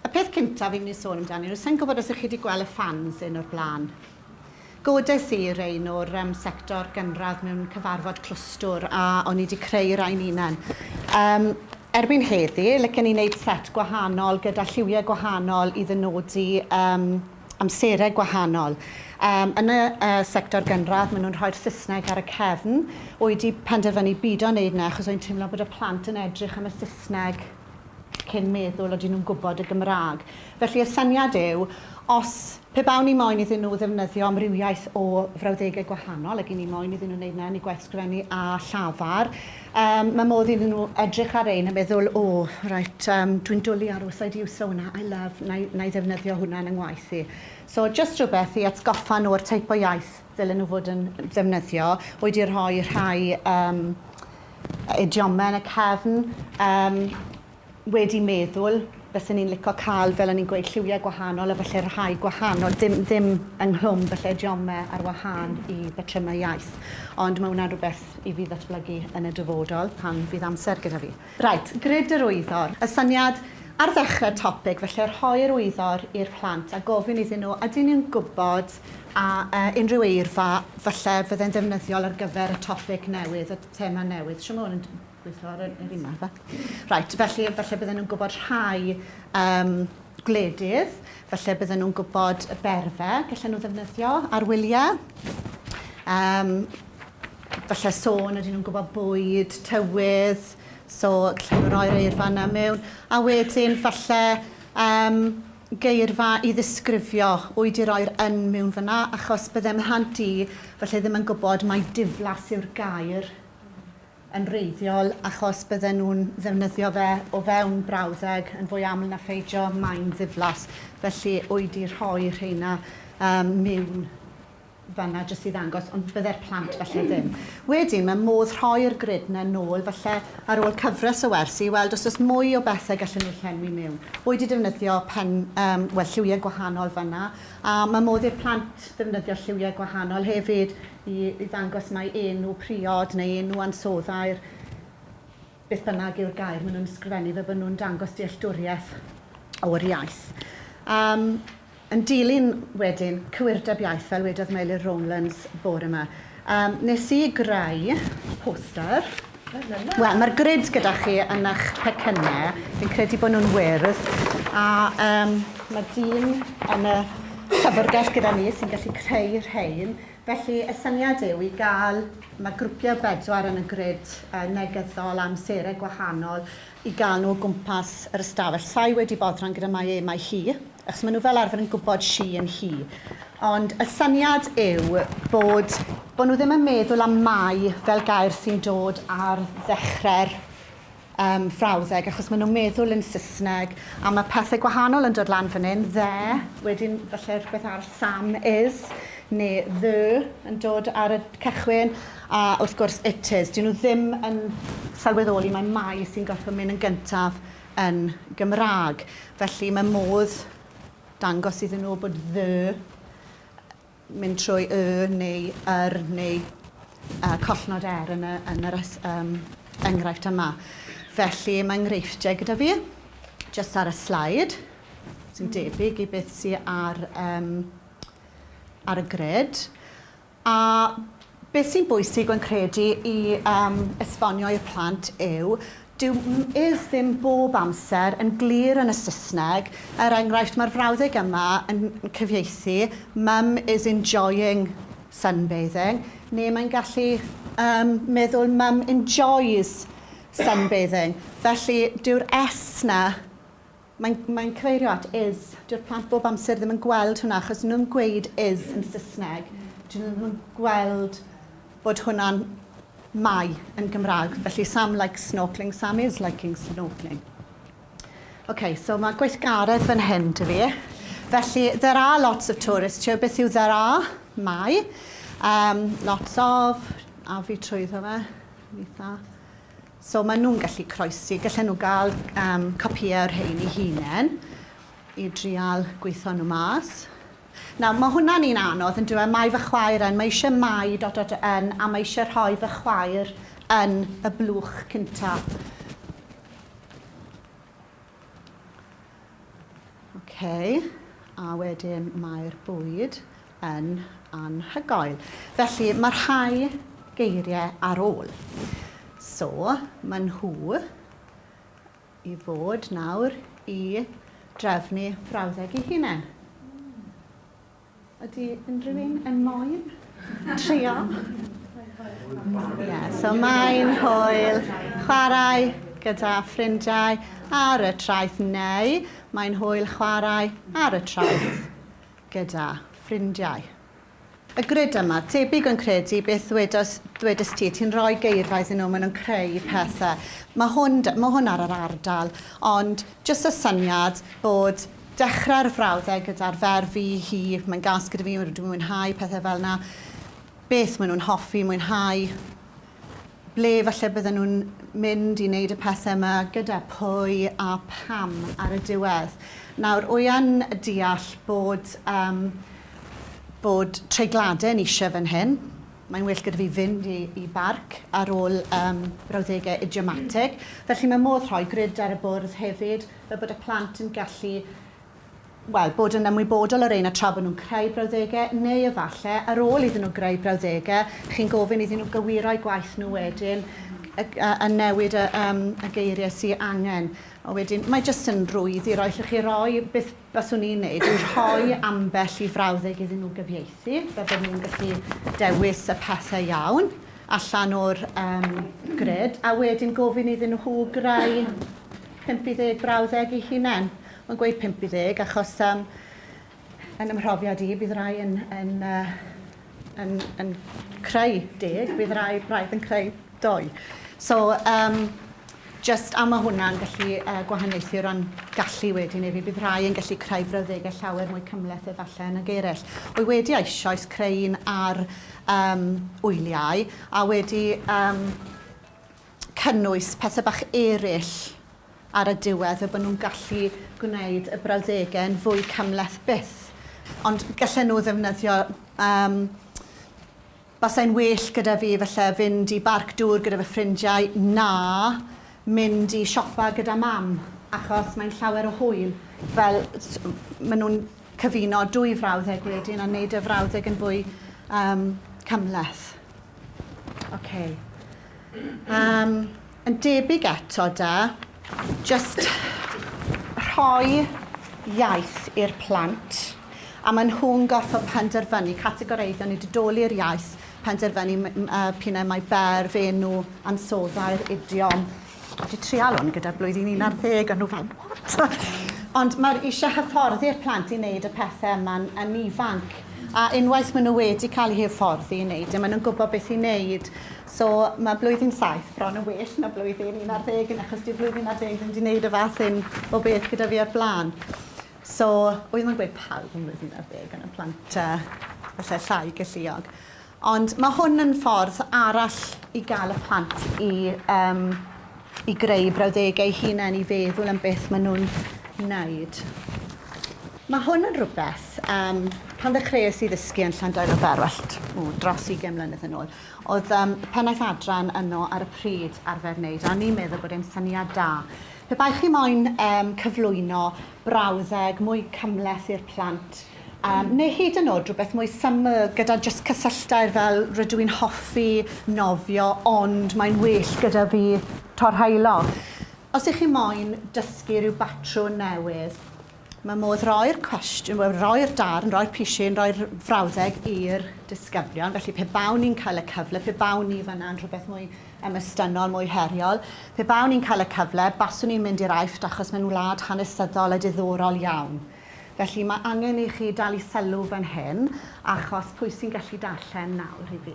Y peth cyntaf fi'n mynd i sôn amdani, rwy'n sa'n gwybod os ych chi wedi gweld y fans un o'r blaen. Godes i rein o'r um, sector gynradd mewn cyfarfod clwstwr a o'n i wedi creu rhain unan. Um, erbyn heddi, lycen i wneud set gwahanol gyda lliwiau gwahanol i ddynodi um, amserau gwahanol. Um, yn y uh, sector gynradd, maen nhw'n rhoi'r Saesneg ar y cefn. O'i di penderfynu byd o'n neud na, achos o'i'n teimlo bod y plant yn edrych am y Saesneg cyn meddwl oedden nhw'n gwybod y Gymraeg. Felly y syniad yw, os pe bawn ni moyn iddyn nhw ddefnyddio amrywiaeth o frawddegau gwahanol, ac i ni moyn iddyn nhw wneud na yn eu gwaith sgrifennu a llafar, Yym, mae modd iddyn nhw edrych ar rhein a meddwl, 'O, reit, yym, dwi'n dwl i aros, I do use sauna, I love, na i, na i ddefnyddio hwnna yn 'y ngwaith i. So, jyst rhywbeth i atgoffa nhw o'r teip o iaith ddylen nhw fod yn ddefnyddio. Rwy 'di rhoi rhai, yym, idiome yn y cefn, yym, wedi meddwl bysen ni'n lico cael fel o'n ni'n gweud lliwiau gwahanol a falle rhai gwahanol dim ddim ynghlwm falle idiome ar wahân i batrymau iaith ond mae hwnna'n rhywbeth i fi ddatblygu yn y dyfodol pan fydd amser gyda fi. Reit, grid yr wyddor. Y syniad ar ddechrau'r topig falle rhoi'r wyddor i'r plant a gofyn iddyn nhw ydyn ni'n gwybod a yy unrhyw eirfa falle fydde'n ddefnyddiol ar gyfer y topig newydd y thema newydd shwmae hwn yn Gweithio ar yr un yma. Reit, felly falle bydden nhw'n gwybod rhai um, gwledydd, falle bydden nhw'n gwybod y berfe, gallen nhw ddefnyddio ar wyliau. Um, falle sôn ydyn nhw'n gwybod bwyd, tywydd, so gallen nhw roi'r eirfa yna mewn. A wedyn falle um, geirfa i ddisgrifio oed i roi'r yn mewn fyna, achos byddem rhant i falle ddim yn gwybod mae diflas yw'r gair yn wreiddiol achos bydden nhw'n ddefnyddio fe o fewn brawddeg yn fwy aml na pheidio, mae'n ddiflas. Felly, oedi rhoi rheina um, mewn fanna jyst i ddangos, ond bydde'r plant falle ddim. Wedyn, mae modd rhoi'r grid na nôl, falle ar ôl cyfres o wersi, i weld os oes mwy o bethau gallen nhw llenwi mewn. Oedi defnyddio pen, um, well, lliwiau gwahanol fanna, a mae modd i'r plant ddefnyddio lliwiau gwahanol hefyd i ddangos mai enw priod neu enw ansoddair, beth bynnag yw'r gair maen nhw'n ysgrifennu, fel bod nhw'n dangos dealltwriaeth o'r iaith. Um, yn dilyn wedyn cywirdeb iaith, fel wedodd Meilir Rowlands bore yma, um, nes i greu poster Wel, mae'r grid gyda chi yn eich pecynnau. Fi'n credu bod nhw'n wyrdd. A um, mae dyn yn y llyfrgell gyda ni sy'n gallu creu rhain. Felly, y syniad yw i gael, mae grwpiau bedwar yn y grid uh, negyddol amserau gwahanol, i gael nhw o gwmpas yr ystafell. Sa i wedi boddran gyda mae e, mae hi, achos maen nhw fel arfer yn gwybod she yn hi. Ond y syniad yw bod, bod nhw ddim yn meddwl am mae fel gair sy'n dod ar ddechrau'r um, frawddeg, achos maen nhw'n meddwl yn Saesneg, a mae pethau gwahanol yn dod lan fan hyn, dde, wedyn falle rhywbeth arall, Sam is, neu the yn dod ar y cychwyn, A wrth gwrs Itys, dyw nhw ddim yn sylweddoli mai Mai sy'n gorfod mynd yn gyntaf yn Gymraeg. Felly mae modd dangos iddyn nhw bod the mynd trwy y neu yr neu uh, collnod er yn, y, yn yr um, enghraifft yma. Felly mae enghreifftiau gyda fi, jyst ar y slaid, sy'n debyg i beth sy'n ar, um, ar y gred. A beth sy'n bwysig rwy'n credu i um, esbonio i'r plant yw dyw is ddim bob amser yn glir yn y Saesneg. Er enghraifft, mae'r frawddeg yma yn cyfieithu mum is enjoying sunbathing, neu mae'n gallu um, meddwl mum enjoys sunbathing. Felly, dyw'r S na Mae'n mae'n cyfeirio at is. Dyw'r plant bob amser ddim yn gweld hwnna achos nhw'n gweud is yn Saesneg. Dyn nhw ddim yn gweld bod hwnna'n mai yn Gymraeg. Felly Sam likes snorkeling, Sam is liking snorkeling. OK, so mae gweithgaredd fan hyn dy fi. Felly, there are lots of tourists here. Beth yw there are? Mae. Um, lots of, a fi trwyddo fe, eitha. So maen nhw'n gallu croesi, gallen nhw gael um, copïau o'r rhain i hunain i drial gweithio nhw mas. Nawr, mae hwnna'n un anodd yn dweud, mae fy chwaer yn, mae eisiau mai dot dot yn, a mae eisiau rhoi fy chwaer yn y blwch cyntaf. OK, a wedyn mae'r bwyd. yn anhygoel. Felly, mae rhai geiriau ar ôl. So, mae nhw i fod nawr i drefnu brawddeg i hunain. Ydy unrhyw un yn moyn trio? Yeah, so mae'n hwyl chwarae gyda ffrindiau ar y traeth neu mae'n hwyl chwarae ar y traeth. gyda ffrindiau. Y grid yma, debyg yn credu beth ddwedos, ddwedist ti, ti'n rhoi geirfa iddyn nhw, maen nhw'n creu pethau. Mae hwn, mae hwn ar yr ardal, ond jyst y syniad bod dechrau'r frawddeg gyda'r ferf fi, hi, mae'n gas gyda fi, dwi'n mwynhau pethau fel yna, beth maen nhw'n hoffi, mwynhau, Ble falle bydden nhw'n mynd i wneud y pethau yma, gyda pwy a pham ar y diwedd. Nawr, wy'n deall bod um, bod treigladau'n eisiau fan hyn. Mae'n well gyda fi fynd i, i barc ar ôl um, brawddegau idiomatig. Felly mae modd rhoi grid ar y bwrdd hefyd, fel bod y plant yn gallu wel, bod yn ymwybodol o'r un a tra bod nhw'n creu brawddegau, neu efallai, ar ôl iddyn nhw greu brawddegau, chi'n gofyn iddyn nhw gywiro'u gwaith nhw wedyn, a newid y, yym, y geiriau sy angen. A wedyn, mae jyst yn rwydd i roi, allwch chi roi, beth baswn i'n neud, yw rhoi ambell i frawddeg iddyn nhw gyfieithu, fel bod nhw'n gallu dewis y pethau iawn allan o'r, yym, grid, a wedyn gofyn iddyn nhw greu 50 brawddeg eu hunain. Mae'n gweud 50 achos um, yn ymhrofiad i, bydd rai yn, yn, uh, yn, yn creu deg, bydd rai braidd yn creu doi. So, um, just am mae hwnna'n gallu uh, gwahaniaethu o ran gallu wedyn efi, bydd rhai yn gallu creu brawddegau llawer mwy cymleth efallai yn y geirell. Wy wedi eisoes creu un ar um, wyliau a wedi um, cynnwys pethau bach eraill ar y diwedd, fel bod nhw'n gallu gwneud y brawddegau yn fwy cymhleth byth. Ond gallen nhw ddefnyddio, um, basai'n well gyda fi falle fynd i barc dŵr gyda fy ffrindiau na mynd i siopa gyda mam, achos mae'n llawer o hwyl. Fel, maen nhw'n cyfuno dwy frawddeg wedyn a wneud y frawddeg yn fwy um, cymhleth. Okay. Um, Yn debyg eto da, jyst rhoi iaith i'r plant a maen nhw'n gorfod penderfynu, categoreiddio neu didoli'r iaith, penderfynu p'un ai mae berf, enw, ansoddair, idiom. Dwi wedi trial hwn gyda'r blwyddyn 11 a nhw fel, what? Ond mae'r eisiau hyfforddi'r plant i wneud y pethau yma'n yn ifanc. A unwaith maen nhw wedi cael eu hyfforddi i wneud e, maen nhw'n gwybod beth i wneud. So mae blwyddyn saith bron yn well na blwyddyn un ar ddeg yn achos dyw blwyddyn ar ddeg ddim wedi gwneud y fath hyn o beth gyda fi o'r blaen. So, oedd mae'n gweud pawb yn blwyddyn ar ddeg yn y plant uh, falle llai galluog. Ond mae hwn yn ffordd arall i gael y plant i, um, i greu brawddegau hunain i feddwl am beth maen nhw'n wneud. Mae hwn yn rhywbeth, um, pan ddechreuais i ddysgu yn Llandail o Ferwallt, o, dros 20 mlynedd yn ôl, Oedd um, pennaeth adran yno ar y pryd arfer wneud, a ni'n meddwl bod e'n syniad da. Pe baech chi moyn um, cyflwyno brawddeg mwy cymleth i'r plant, Um, neu hyd yn oed rhywbeth mwy syml gyda just cysylltair fel rydw i'n hoffi nofio ond mae'n well gyda fi torhaelo. Os ych chi moyn dysgu rhyw batrwn newydd, Mae modd roi'r cwestiwn, wel, roi'r darn, roi'r pishin, roi'r frawddeg i'r disgyblion. Felly, pe bawn ni'n cael y cyfle, pe bawn ni fanna'n rhywbeth mwy emystynol, mwy heriol, pe bawn ni'n cael y cyfle, baswn ni'n mynd i'r Aifft achos maen nhw'n wlad hanesyddol a diddorol iawn. Felly, mae angen i chi dal i sylw fan hyn achos pwy sy'n gallu darllen nawr i fi?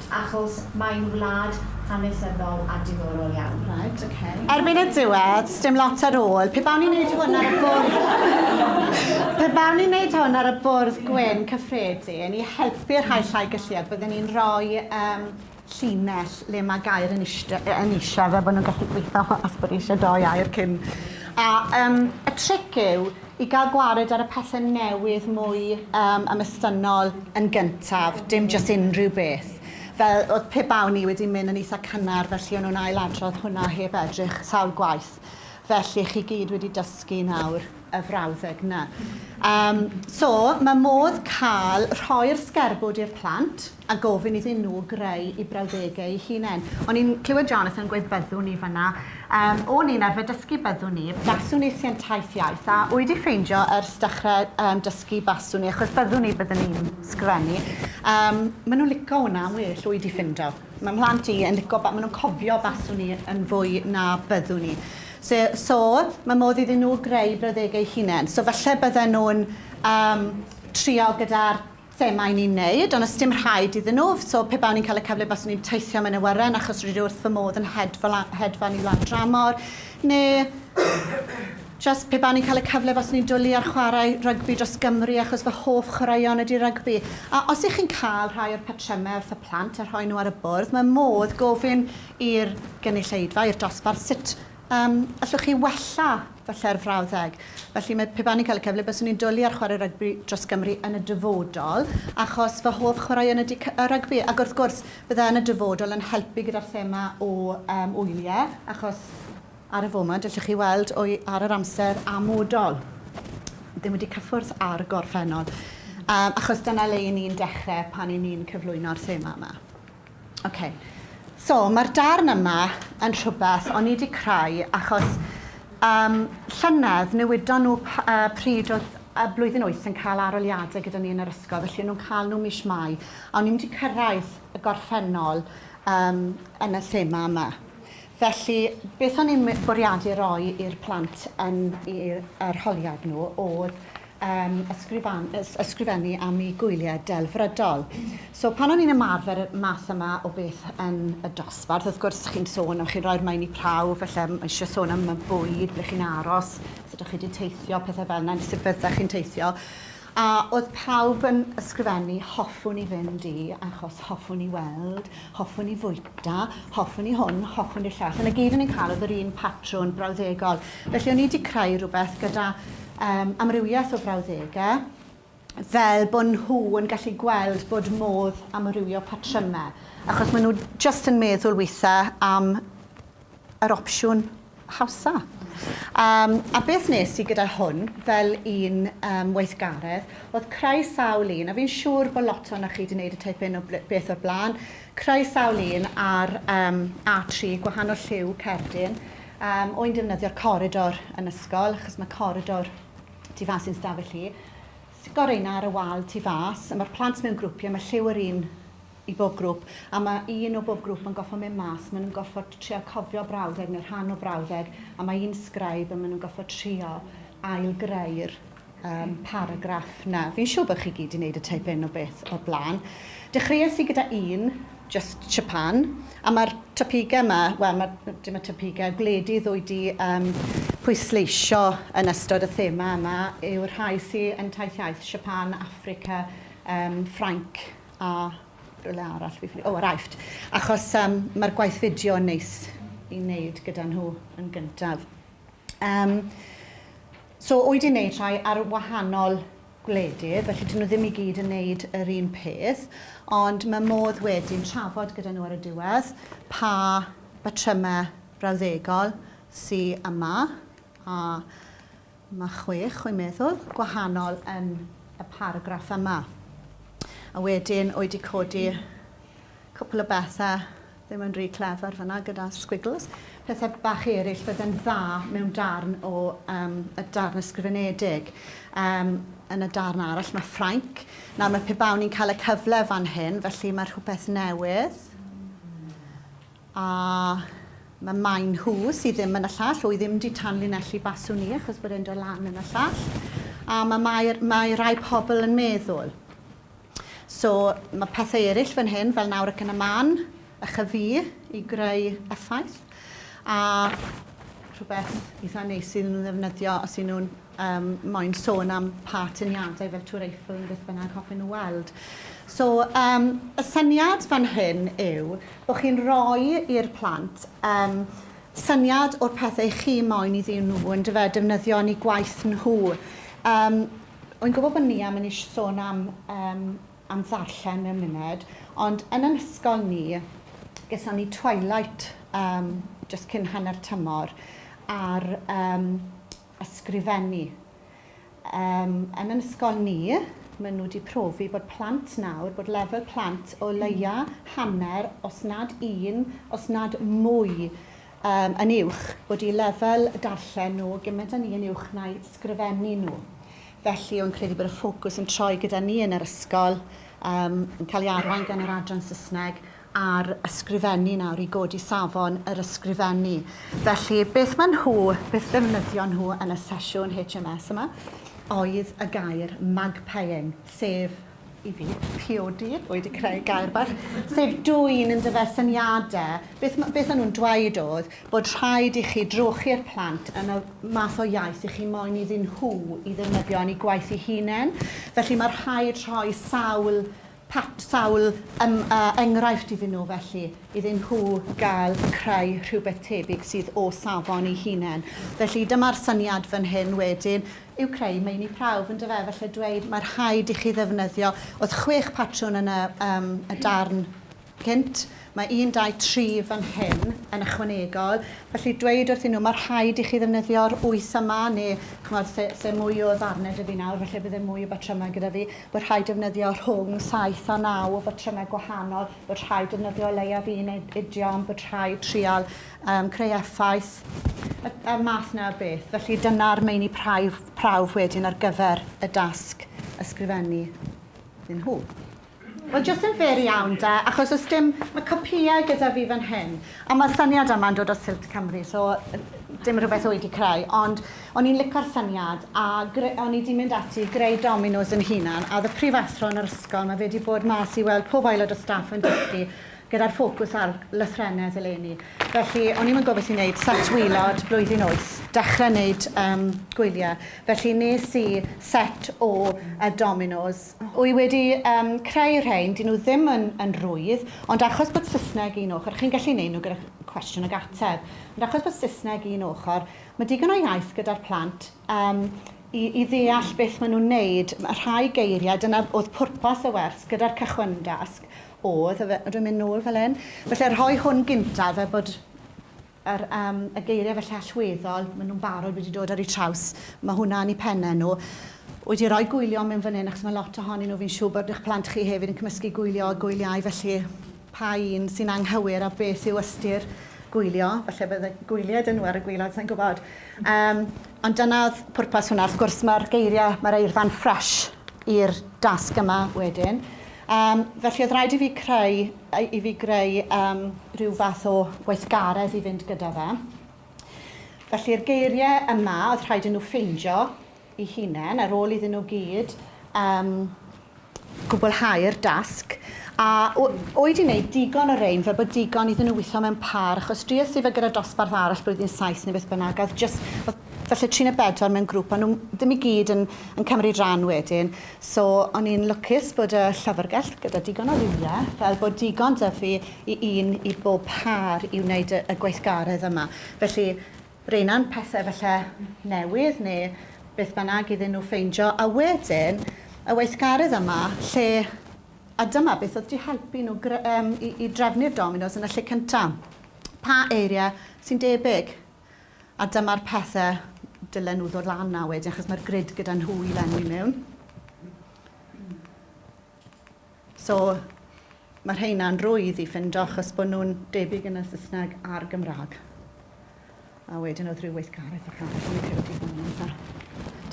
Achos mae'n wlad hanesyddol a diddorol iawn. Right, ok. Erbyn y diwedd, sdim lot ar ôl. Pe bawn i'n neud hwn ar y bwrdd... Pe bawn i'n neud hwn ar y bwrdd gwyn cyffredin i helpu'r rhai llai galluog, bydden i'n rhoi um, llinell le mae gair yn eisiau, yn eisiau fel bod nhw'n gallu gweithio os bod eisiau doi air cyn... A um, y tric yw I gael gwared ar y pethe newydd mwy yym ymestynnol yn gyntaf, dim jyst unrhyw beth. Fel o'dd pe bawn i wedi myn' yn itha cynnar felly o'n nw'n ail-adrodd hwnna heb edrych sawl gwaith. Felly chi gyd wedi dysgu nawr y frawddeg 'na. Yym so ma' modd ca'l rhoi'r sgerbwd i'r plant. a gofyn iddyn nhw greu eu brawddegau eu hunain. O'n i'n clywed Jonathan yn gweud byddwn ni fanna. Um, o'n i'n arfer dysgu byddwn ni. Baswn i sy'n taith iaith, a o'i di ffeindio ers dechrau um, dysgu baswn i, achos byddwn ni byddwn ni'n sgrennu. Um, maen nhw'n lico hwnna yn well o'i di ffindo. Mae mhlant i yn lico, maen nhw'n cofio baswn i yn fwy na byddwn ni. So, so mae modd iddyn nhw greu brawddegau hunain. So falle bydden nhw'n um, trial gyda'r thema i ni wneud ond os dim rhaid iddyn nhw, so pe bawn i'n cael y cyfle baswn i'n teithio am yn awyren achos rydw i wrth fy modd yn hedfa lan, hedfan i lan dramor, neu just pe bawn i'n cael y cyfle baswn i'n dwlu ar chwarae rygbi dros Gymru achos fy hoff chwaraeon ydy rygbi. A os ych chi'n cael rhai o'r patrymau wrth y plant a rhoi nhw ar y bwrdd, mae modd gofyn i'r gynulleidfa, i'r dosbarth, sut Yym, allwch chi wella fy lle'r frawddeg? Felly mae, pe ba'n i'n cael y cyfle, byswn i'n dwli ar chwarae rygbi dros Gymru yn y dyfodol, achos fy hoff chwaraeon ydi cy- yy rygbi, ac wrth gwrs, bydda yn y dyfodol yn helpu gyda'r thema o yym wylie, achos ar y foment, allwch chi weld wy ar yr amser amodol, ddim wedi cyffwrdd â'r gorffennol, yym achos dyna le 'yn ni'n dechre pan 'yn ni'n cyflwyno'r thema yma. Ok, so mae'r darn yma yn rhywbeth o'n i wedi creu achos um, llynedd newydon nhw uh, pryd oedd y blwyddyn wyth yn cael aroliadau gyda ni yn yr ysgol, felly nhw'n cael nhw mis Mai, a o'n i'n mynd i cyrraedd y gorffennol um, yn y thema yma. Felly, beth o'n i'n bwriadu roi i'r plant yn i'r arholiad nhw oedd yn ysgrifennu am eu gwyliau delfrydol. So pan o'n i'n ymarfer y math yma o beth yn y dosbarth, wrth gwrs chi'n sôn, chi'n rhoi'r maen i prawf, falle mae eisiau sôn am y bwyd, ble chi'n aros, sut ydych chi wedi teithio, pethau fel yna, neu sut fyddech chi'n teithio. A oedd pawb yn ysgrifennu, hoffwn i fynd i, achos hoffwn i weld, hoffwn i fwyta, hoffwn i hwn, hoffwn i'r llall. Yn y gyd o'n i'n cael oedd yr un patrwn brawddegol. Felly o'n i wedi creu rhywbeth gyda um, amrywiaeth o frawddegau, fel bod nhw yn gallu gweld bod modd amrywio patrymau, achos maen nhw just yn meddwl weithiau am yr opsiwn hawsa. Um, a beth nes i gyda hwn, fel un um, weithgaredd, oedd creu sawl un, a fi'n siŵr bod lot o'na chi wedi gwneud y teip un o beth o'r blaen, creu sawl un ar um, A3, gwahanol lliw cerdyn, Am ŵyn defnyddio'r coridor yn ysgol, achos mae coridor tu fas i'n stafell i. Stico reina ar y wal tu fas, a mae'r plant mewn grwpiau, mae lliw yr un i bob grwp, a mae un o bob grwp yn gorfod mynd mas, maen nhw'n gorfod trio cofio brawddeg neu rhan o brawddeg, a mae un sgraib a maen nhw'n gorfod trio ail-greu'r um, paragraff na. Fi'n siŵr bod chi gyd i wneud y teip un o beth o'r blaen. Dechreuais i gyda un, just Japan, a mae'r topigau yma, wel, ma, dim y topigau, gwledydd o'i di um, pwysleisio yn ystod y thema yma yw'r rhai sy'n yn taith iaith, Japan, Africa, um, Ffrainc a rhywle arall, fi, o, oh, Aifft. Achos um, mae'r gwaith fideo yn neis i wneud gyda nhw yn gyntaf. Um, So wy di neud rhai ar wahanol gwledydd felly dyn nhw ddim i gyd yn neud yr un peth ond mae modd wedyn trafod gyda nhw ar y diwedd pa batrymau brawddegol sy yma a mae chwech wy'n meddwl gwahanol yn y paragraff yma a wedyn wy di codi cwpl o bethau Fe mae'n rhy clefar fyna gyda sgwigls. Pethau bach eraill fydde'n dda mewn darn o um, y darn ysgrifenedig. Um, yn y darn arall mae Ffrainc. Nawr mae pe bawn ni'n cael y cyfle fan hyn, felly mae rhywbeth newydd. A mae maen nhw sydd ddim yn y llall, o'i ddim di tanlinellu baswn ni achos bod e'n dod lan yn y llall. A mae, mae, mae rai pobl yn meddwl So, mae pethau eraill fan hyn, fel nawr ac yn y man, a chyfu i greu effaith. A rhywbeth eitha neis sydd nhw'n ddefnyddio os y'n nhw'n um, moyn sôn am pa tyniadau fel Tŵr Eiffel yn beth bynnag hoffwn nhw weld. So, um, y syniad fan hyn yw bod chi'n rhoi i'r plant um, syniad o'r pethau chi moyn iddyn nhw yn dyfe, defnyddio yn eu gwaith nhw. Um, Wi'n gwybod bod Nia mynd i sôn am yym am ddarllen mewn munud, ond yn yn ysgol ni, geson ni twilight yym jyst cyn hanner tymor ar yym ysgrifennu. Yym yn yn ysgol ni, maen nhw 'di profi bod plant nawr, bod lefel plant o leia' hanner, os nad un, os nad mwy um, yn uwch, bod i lefel darllen nhw gymaint â ni yn uwch na'i sgrifennu nhw. Felly, o'n credu bod y ffocws yn troi gyda ni yn yr ysgol, um, yn cael ei arwain gan yr adran Saesneg, ar ysgrifennu nawr i godi safon yr ysgrifennu. Felly, beth maen nhw, beth ddefnyddio nhw yn y sesiwn HMS yma, oedd y gair magpieing, sef i fi, priodi, wy 'di creu gair bach, sef dwyn yn dyfe syniade. Beth ma', beth o'n nhw'n dweud o'dd bod rhaid i chi drochi'r plant yn y math o iaith i chi moyn iddyn nhw i ddefnyddio yn 'u gwaith 'u hunen. Felly ma' rhaid rhoi sawl pat- sawl yym yy enghraifft iddyn nhw felly, iddyn nhw ga'l creu rhywbeth tebyg sydd o safon 'u hunen. Felly dyma'r syniad fan hyn wedyn, yw creu meini prawf, yn dyfe, felly dweud mae rhaid i chi ddefnyddio, oedd chwech patrwn yn y, um, y darn cynt, mae un, dau, tri fan hyn yn ychwanegol, felly dweud wrthyn nhw mae rhaid i chi ddefnyddio'r wyth yma, neu chymod, lle, lle mwy o ddarnau dy fi nawr, felly byddai mwy o batrymau gyda fi, bod rhaid defnyddio rhwng saith a naw o batrymau gwahanol, bod rhaid defnyddio leiaf un idiom, bod rhaid trial um, creu effaith, y, y math na beth. Felly dyna'r meini prawf, prawf wedyn ar gyfer y dasg ysgrifennu iddyn nhw. Wel, jyst yn fer iawn da, achos os dim, mae copïau gyda fi fan hyn, a mae'r syniad yma'n dod o Silt Cymru, so dim rhywbeth o'i di creu, ond o'n i'n licor syniad, a o'n i di mynd ati greu dominos yn hunan, a oedd y prifathro yn yr ysgol, mae fe wedi bod mas i weld pob aelod o staff yn dysgu, gyda'r ffocws ar lythrennedd eleni. Felly, o'n i'm yn gwybod beth i wneud, set waelod, blwyddyn wyth, dechrau wneud um, gwyliau. Felly nes i set o uh, dominos. Wy wedi um, creu rhain, dyn nhw ddim yn, yn rwydd, ond achos bod Saesneg un ochr, chi'n gallu wneud nhw gyda cwestiwn ag ateb, ond achos bod Saesneg un ochr, mae digon o iaith gyda'r plant um, i, i ddeall beth maen nhw'n wneud. Mae rhai geiriau, dyna oedd pwrpas y wers gyda'r cychwyndasg, Oedd, efe, dwi'n mynd nôl fel hyn. Felly rhoi hwn gyntaf fel bod yr yym y geiriau felly allweddol, maen nhw'n barod wedi dod ar eu traws. Mae hwnna yn eu pennau nhw. Wyt ti rhoi gwylio mewn fan hyn achos mae lot ohonyn nhw, fi'n siŵr bod eich plant chi hefyd yn cymysgu gwylio a gwyliau felly pa un sy'n anghywir a beth yw ystyr gwylio. Falle bydd y gwyliau dyn nhw ar y gwylod, sa'n gwybod. Um, ond dyna oedd pwrpas hwnna. Wrth gwrs mae'r geiriau, mae'r eirfa'n ffresh i'r dasg yma wedyn. Yym, felly oedd rhaid i fi creu, i fi greu um, rhyw fath o weithgaredd i fynd gyda fe. Felly'r geiriau yma, oedd rhaid i nhw ffeindio i hunain, ar ôl iddyn nhw gyd um, gwblhau'r dasg. A oed i wneud digon o rein, fe bod digon iddyn nhw weithio mewn par, achos dries i fe gyda dosbarth arall blwyddyn saith neu beth bynnag, oedd, just, oedd Felly tri neu bedwar mewn grŵp, o'n nhw ddim i gyd yn yn cymryd rhan wedyn. So o'n i'n lwcus bod y llyfrgell gyda digon o rywle, fel bod digon 'da fi i un i bob pâr i wneud y y gweithgaredd yma. Felly reina'n pethe falle newydd neu beth bynnag iddyn nhw ffeindio, a wedyn y weithgaredd yma lle... A dyma beth oedd 'di helpu nhw gre- yym i i drefnu'r dominos yn y lle cynta'. Pa eirie sy'n debyg? A dyma'r pethe dylen nhw ddod lan â wedyn achos mae'r grid gyda nhw i lenwi mewn. So mae rheina'n rwydd i ffindo achos bod nhw'n debyg yn y Saesneg a'r Gymraeg. A wedyn oedd rhyw weithgaredd bach arall yn y cyrdi fan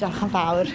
Diolch yn fawr.